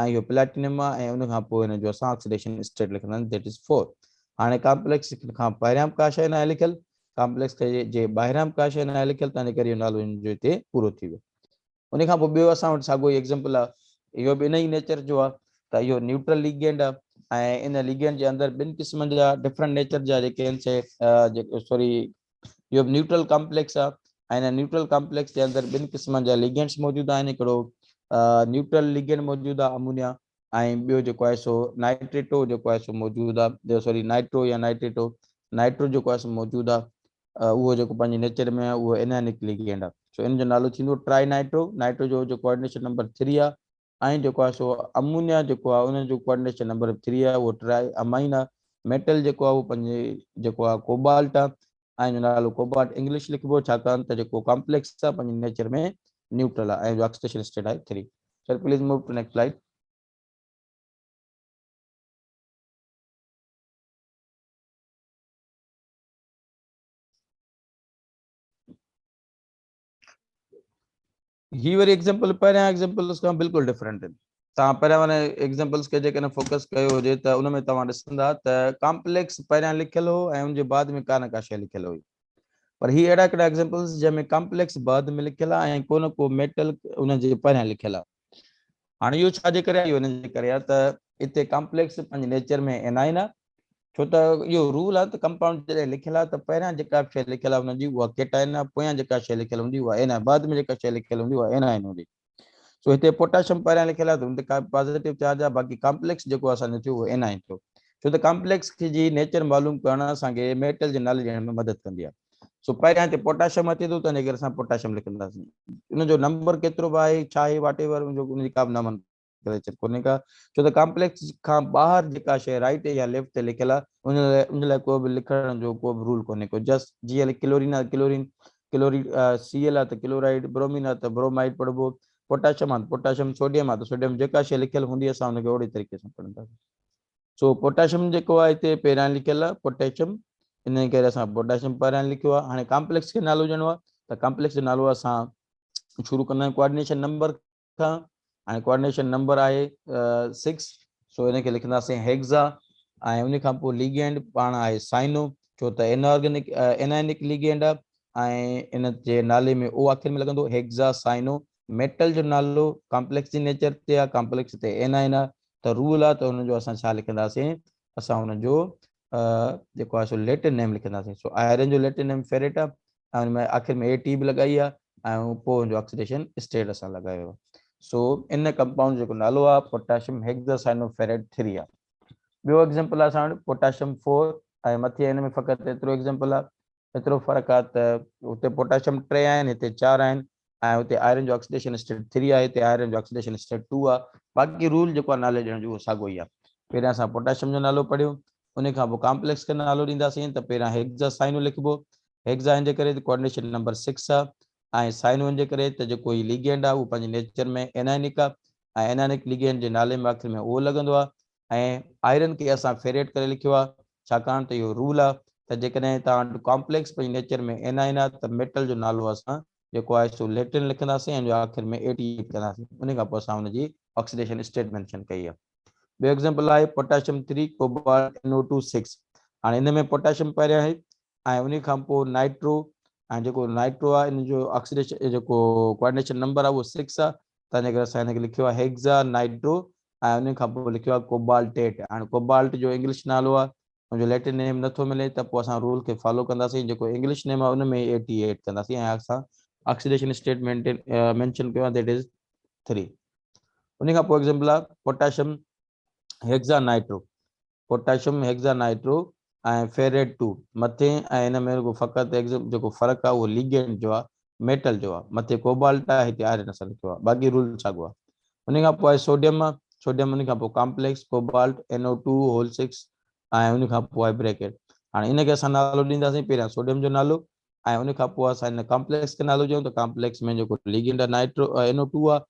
۽ اهو پليٽينم آ ۽ ان کان پوء هن جو اسان آڪسيڊيشن اسٽيٽ لکنداسين ذيٽ از 4 هاڻي ڪمپليڪس کان پهريان به ڪا شيء ناهي لکيل ڪمپليڪس کي جي ٻاهريان به ڪا شيء ناهي لکيل تنهن ڪري اهو نالو هن جو هتي پورو ٿي ويو ان کان پوء ٻيو اسان وٽ ساڳيو ئي ايگزيمپل آ اهو به انهي ئي نيچر جو آ ته اهو نيوٽرل ليگينڊ آ ۽ ان ليگينڊ جي اندر ٻن قسمن جا ڊفرنٽ نيچر جا جيڪي آهن سي جيڪي سوري اهو به نيوٽرل ڪمپليڪس آ ۽ ان نيوٽرل ڪمپليڪس جي اندر ٻن قسمن جا ليگينڊس موجود آهن هڪڙو نيوٽرل ليگينڊ موجود آ امونيا ۽ ٻيو جيڪو آهي سو نائٽريٽو جيڪو آهي سو موجود آهي سوري نائٽرو يا نائٽريٽو نائٽرو جيڪو آهي سو موجود آهي اهو جيڪو پنهنجي نيچر ۾ اهو انائنڪ ليگينڊ آهي سو ان جو نالو ٿيندو ٽرائي نائٽرو نائٽرو جو جو ڪوآرڊينيشن نمبر 3 آهي ۽ جيڪو آهي سو امونيا جيڪو آهي ان جو ڪوآرڊينيشن نمبر 3 آهي اهو ٽرائي امائن آهي ميٽل جيڪو آهي اهو پنهنجي جيڪو آهي ڪوبالٽ آهي آئن جو نالو ڪوبالٽ انگلش لکبو ڇاڪاڻ ته جيڪو ڪامپليڪس آهي پنهنجي نيچر ۾ نيوٽرل آهي آئن جو آڪسيڊيشن اسٽيٽ آهي three sir please move to next slide هي وري ايگزامپل پهريان ايگزامپلز کان بلڪل ڊفرنٽ آهن توهان پهريان واري ايگزامپلز کي جيڪڏهن فوڪس ڪيو هجي ته ان ۾ توهان ڏسندا ته ڪامپليڪس پهريان لکيل هو ۽ ان جي بعد ۾ ڪا نه ڪا شيء لکيل هئي پر هي اهڙا ڪهڙا ايگزامپلز جنهن ۾ ڪامپليڪس بعد ۾ لکيل آهي ۽ ڪو نه ڪو ميٽل ان جي پهريان لکيل آهي هاڻي اهو ڇا جي ڪري آهي؟ اهو ان جي ڪري آهي ته اتي ڪامپليڪس پنهنجي نيچر ۾ اين آهي نه، ڇو ته اهو رول آهي ته ڪمپائونڊ جڏهن لکيل آهي ته پهريان جيڪا به شيء لکيل آهي هن جي اها ڪيٽائن آهي، پويان جيڪا شيء لکيل هوندي اها اين آهي، بعد ۾ جيڪا شيء لکيل هوندي اها اينائن هوندي. سو هتي پوٽاشم پهريان لکيل آهي ته هن تي ڪا به پازيٽو چارج آهي، باقي ڪامپليڪس جيڪو اسان جو ٿيو اهو اينائن ٿيو، ڇو ته ڪامپليڪس جي نيچر معلوم ڪرڻ اسان کي ميٽل جي نالي ڏيڻ ۾ مدد ڪندي آهي. سو پهريان هتي پوٽاشم اچي ٿو ته ان ڪري اسان پوٽاشم لکنداسين ان جو نمبر ڪيترو به آهي ڇا آهي واٽ ايور ان جو ان جي ڪا به نامن ڪريچر ڪونهي ڪا ڇو ته ڪامپليڪس کان ٻاهر جيڪا شيء رائٽ يا ليفٽ تي لکيل آهي ان لاء ان لاء ڪو به لکڻ جو ڪو به رول ڪونهي ڪو جسٽ جي ال ڪلورين آهي ڪلورين ڪلوريڊ سي ال آهي ته ڪلورائيڊ برومين آهي ته برومائيڊ پڙهبو پوٽاشم آهي ته پوٽاشم سوڊيم آهي ته سوڊيم جيڪا شيء لکيل هوندي اسان ان کي اوڙي طريقي سان پڙهنداسين سو پوٽاشم جيڪو آهي هتي پهريان لکيل آهي پوٽاشم ان ڪري اسان پوٽاشم پهريان لکيو آهي هاڻي ڪامپليڪس کي نالو ڏيڻو آهي ته ڪامپليڪس جو نالو اسان شروع ڪندا آهيون ڪوآرڊينيشن نمبر کان هاڻي ڪوآرڊينيشن نمبر آهي 6 سو ان کي لکنداسين هيگزا ۽ ان کان پوء ليگينڊ پاڻ آهي سائنو ڇو ته inorganic inorganic ligand آهي ۽ ان جي نالي ۾ او آخر ۾ لڳندو هيگزا سائنو ميٽل جو نالو ڪامپليڪس جي نيچر تي آ ڪامپليڪس تي اين آ اين آ ته رول آ ته ان جو اسان ڇا لکنداسين اسان ان جو جيڪو آ سو ليٽن نيم لکنداسين سو آئرن جو ليٽن نيم فيريٽ آ ۽ ان ۾ آخر ۾ اي ٽي به لڳائي آ ۽ پوء ان جو آڪسيڊيشن اسٽيٽ اسان لڳايو سو ان ڪمپائونڊ جيڪو نالو آ پوٽاشيم هيگزاسائنو فيريٽ 3 آ ٻيو ايگزامپل آ اسان وٽ پوٽاشيم 4 ۽ مٿي ان ۾ فقط ايترو ايگزامپل آ ايترو فرق آ ته اتي پوٽاشيم ٽي آهن هتي چار آهن ۽ اتي آئرن جو آڪسيڊيشن اسٽيٽ ٿري آهي هتي آئرن جو آڪسيڊيشن اسٽيٽ ٽو آ باقي رول جيڪو آ نالي ڏيڻ جو اهو ساڳو ئي آ پهريان اسان پوٽاشيم جو نالو پڙهيو انهي کان پوء ڪامپليڪس کي نالو ڏينداسين ته پهريان هيگزا سائنو لکبو هيگزا هن جي ڪري ته ڪوآرڊينيشن نمبر سڪس آ ۽ سائنو هن جي ڪري ته جيڪو هي ليگينڊ آ اهو پنهنجي نيچر ۾ انائنڪ آ ۽ انائنڪ ليگينڊ جي نالي ۾ آخر ۾ او لڳندو آ ۽ آئرن کي اسان فيريٽ ڪري لکيو آهي ڇاڪاڻ ته اهو رول آهي ته جيڪڏهن توهان وٽ ڪامپليڪس پنهنجي نيچر ۾ ائنائن آهي ته ميٽل جو نالو اسان جيڪو آهي سو ليٽن لکنداسين ۽ جو آخر ۾ اي ٽي ايڊ ڪنداسين ان کان پوء اسان ان جي آڪسيڊيشن اسٽيٽ مينشن ڪئي آهي ٻيو ايگزامپل آهي potassium three cobalt N O two six هاڻي ان ۾ پوٽاشيم پهريان آهي ۽ ان کان پوء نائٽرو ۽ جيڪو نائٽرو آهي ان جو آڪسيڊيشن جيڪو ڪوآرڊينيشن نمبر آهي اهو سڪس آهي تنهنجي ڪري اسان هن کي لکيو آهي هيگزا نائٽرو ۽ ان کان پوء لکيو آهي ڪوبالٽيٽ هاڻي ڪوبالٽ جو انگلش نالو آهي ان جو ليٽن نيم نٿو ملي ته پوء اسان رول کي فالو ڪنداسين جيڪو انگلش نيم آهي ان ۾ ئي اي ٽي ايڊ ڪنداسين ۽ اسان آڪسيڊيشن اسٽيٽ مينشن ڪيو آهي ديٽ از 3 ان کان پوء ايگزامپل آهي potassium hexanitro potassium hexanitro ۽ ferrate two مٿين ۽ هن ۾ رڳو فقط هيگزم جيڪو فرق آ اهو ليگينڊ جو آ ميٽل جو آ مٿي ڪوبالٽ آ هتي آئرن اسان لکيو آ باقي رول ساڳو آ انهي کان پوء آهي سوڊيم سوڊيم انهي کان پوء complex cobalt N O two whole six ۽ انهي کان پوء آهي بريڪيٽ هاڻي ان کي اسان نالو ڏينداسين پهريان سوڊيم جو نالو ۽ ان کان پوء اسان هن ڪامپليڪس کي نالو ڏيون ته ڪامپليڪس ۾ جيڪو ليگنڊ آهي نائٽرو اين او ٽو آهي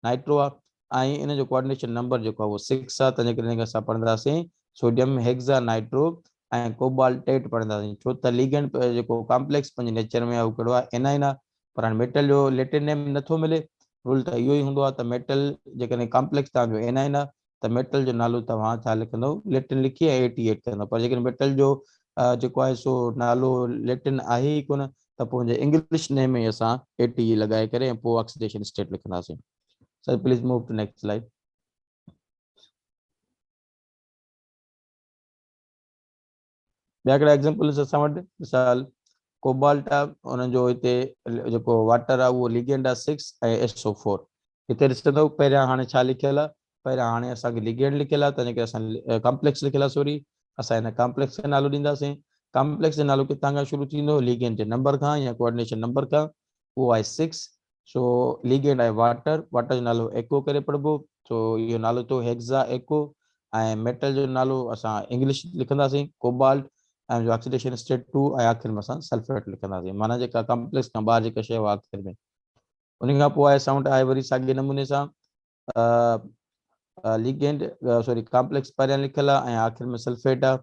نائٽرو آهي ۽ ان جو ڪوآرڊينيشن نمبر جيڪو آهي اهو سڪس آهي تنهنجي ڪري ان کي اسان پڙهنداسين سوڊيم هيگزا نائٽرو ۽ ڪوبالٽيٽ پڙهنداسين ڇو ته ليگنڊ جيڪو ڪامپليڪس پنهنجي نيچر ۾ اهو ڪهڙو آهي انائن آهي پر هاڻي ميٽل جو ليٽن نيم نٿو ملي رول ته اهو ئي هوندو آهي ته ميٽل جيڪڏهن ڪامپليڪس تهان جو انائن آهي ته ميٽل جو نالو توهان ڇا لکندو ليٽن لکي ۽ اي ٽي ايڊ ڪندو پر جيڪڏهن ميٽل جو جيڪو آهي سو نالو ليٽن آهي ئي ڪونه ته پوء هن جي انگلش نيم ۾ اسان اي ٽي اي لڳائي ڪري ۽ پوء آڪسيڊيشن اسٽيٽ لکنداسين sir please move to next slide ٻيا ڪهڙا ايگزامپلز اسان وٽ مثال ڪوبالٽ آ ان جو هتي جيڪو واٽر آ اهو ليگينڊ آ 6 ۽ ايس او 4 هتي ڏسندو پهريان هاڻي ڇا لکيل آ پهريان هاڻي اسان کي ليگينڊ لکيل آ تنهن ڪري اسان ڪمپليڪس لکيل آ سوري اسان هن ڪمپليڪس کي نالو ڏينداسين ڪمپليڪس جو نالو ڪٿان کان شروع ٿيندو ليگينڊ جي نمبر کان يا ڪوآرڊينيشن نمبر کان او آء سڪس سو ليگينڊ آهي واٽر واٽر جو نالو ايڪو ڪري پڙهبو سو اهو نالو ٿيو هيڪزا ايڪو ۽ ميٽل جو نالو اسان انگلش لکنداسين ڪوبالٽ ۽ جو آڪسيڊيشن اسٽيٽ ٽو ۽ آخر ۾ اسان سلفيٽ لکنداسين معنيٰ جيڪا ڪمپليڪس کان ٻاهر جيڪا شيء آخر ۾ ان کان پوء آهي سائونڊ آهي وري ساڳي نموني سان ليگينڊ سوري ڪامپليڪس پهريان لکيل آهي ۽ آخر ۾ سلفيٽ آهي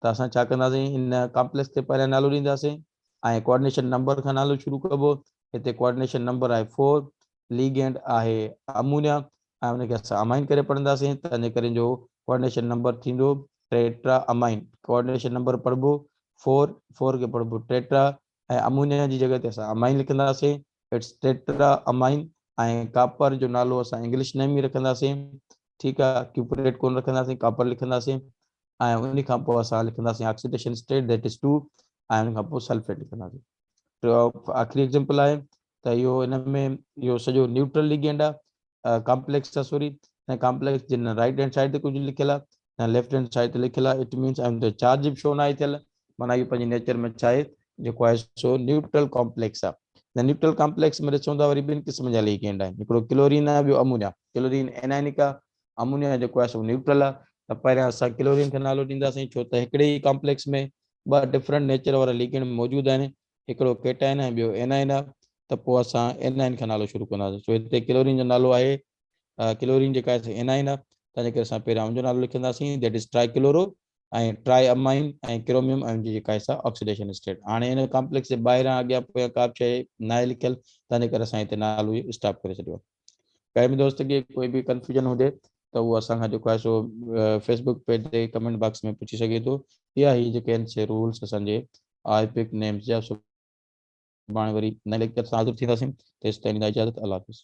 ته اسان ڇا ڪنداسين ان ڪامپليڪس تي پهريان نالو ڏينداسين ۽ ڪوآرڊينيشن نمبر کان نالو شروع ڪبو هتي ڪوآرڊينيشن نمبر آهي 4 ليگينڊ آهي امونيا ۽ ان کي اسان امائن ڪري پڙهنداسين تنهنجي ڪري جو ڪوآرڊينيشن نمبر ٿيندو ٽيٽرا امائن ڪوآرڊينيشن نمبر پڙهبو 4 4 کي پڙهبو ٽيٽرا ۽ امونيا جي جڳهه تي اسان امائين لکنداسين، اٽس ٽيٽرا امائين ۽ ڪاپر جو نالو اسان انگلش نيم ئي رکنداسين، ٺيڪ آ، ڪيوپريٽ ڪونه رکنداسين، ڪاپر لکنداسين ۽ انهي کان پوء اسان لکنداسين oxidation state that it's two ۽ انهي کان پوء سلفيٽ لکنداسين. ٽيون آخري ايگزيمپل آهي ته اهو ان ۾ اهو سڄو نيوٽرل ليگينڊ آ، ڪامپليڪس تصوري ۽ ڪامپليڪس جي رائيٽ هينڊ سائيڊ تي ڪجهه لکيل آهي ۽ ليفٽ هينڊ سائيڊ تي لکيل آهي اٽ مينس ان تي چارج به شو ناهي ٿيل معنيٰ اهو پنهنجي نيچر ۾ ڇا آهي جيڪو آهي سو نيوٽرل ڪامپليڪس آهي ۽ نيوٽرل ڪامپليڪس ۾ ڏسون ٿا وري ٻن قسم جا ليگينڊ آهن هڪڙو ڪلورين آهي ٻيو امونيا ڪلورين انائنڪ آهي امونيا جيڪو آهي سو نيوٽرل آهي ته پهريان اسان ڪلورين کي نالو ڏينداسين ڇو ته هڪڙي ئي ڪامپليڪس ۾ ٻه ڊفرنٽ نيچر وارا ليگينڊ موجود آهن هڪڙو ڪيٽائن ۽ ٻيو اينائن آ ته پوء اسان اينائن کان نالو شروع ڪنداسين سو هتي ڪلورين جو نالو آهي ڪلورين جيڪا آهي سا اينائن آ تنهن جي ڪري اسان پهريان ان جو نالو لکنداسين that is trichloro ۽ triammine ۽ chromium ion جي جيڪا آهي سا آڪسيڊيشن اسٽيٽ هاڻي ان ڪامپليڪس جي ٻاهران اڳيان پويان ڪا به شيء ناهي لکيل تنهن جي ڪري اسان هتي نالو اسٽاپ ڪري ڇڏيو آهي. ڪنهن به دوست کي ڪوئي به ڪنفيوزن هجي ته هو اسان کان جيڪو آهي سو فيسبوڪ پيج تي ڪمينٽ باڪس ۾ پڇي سگهي ٿو يا هي جيڪي آهن سي رولز اسان جي آء پڪ نيمز جا سڀاڻي وري نئين ليڪچر سان حاضر ٿينداسين تيستائين ڏيندا اجازت الله حافظ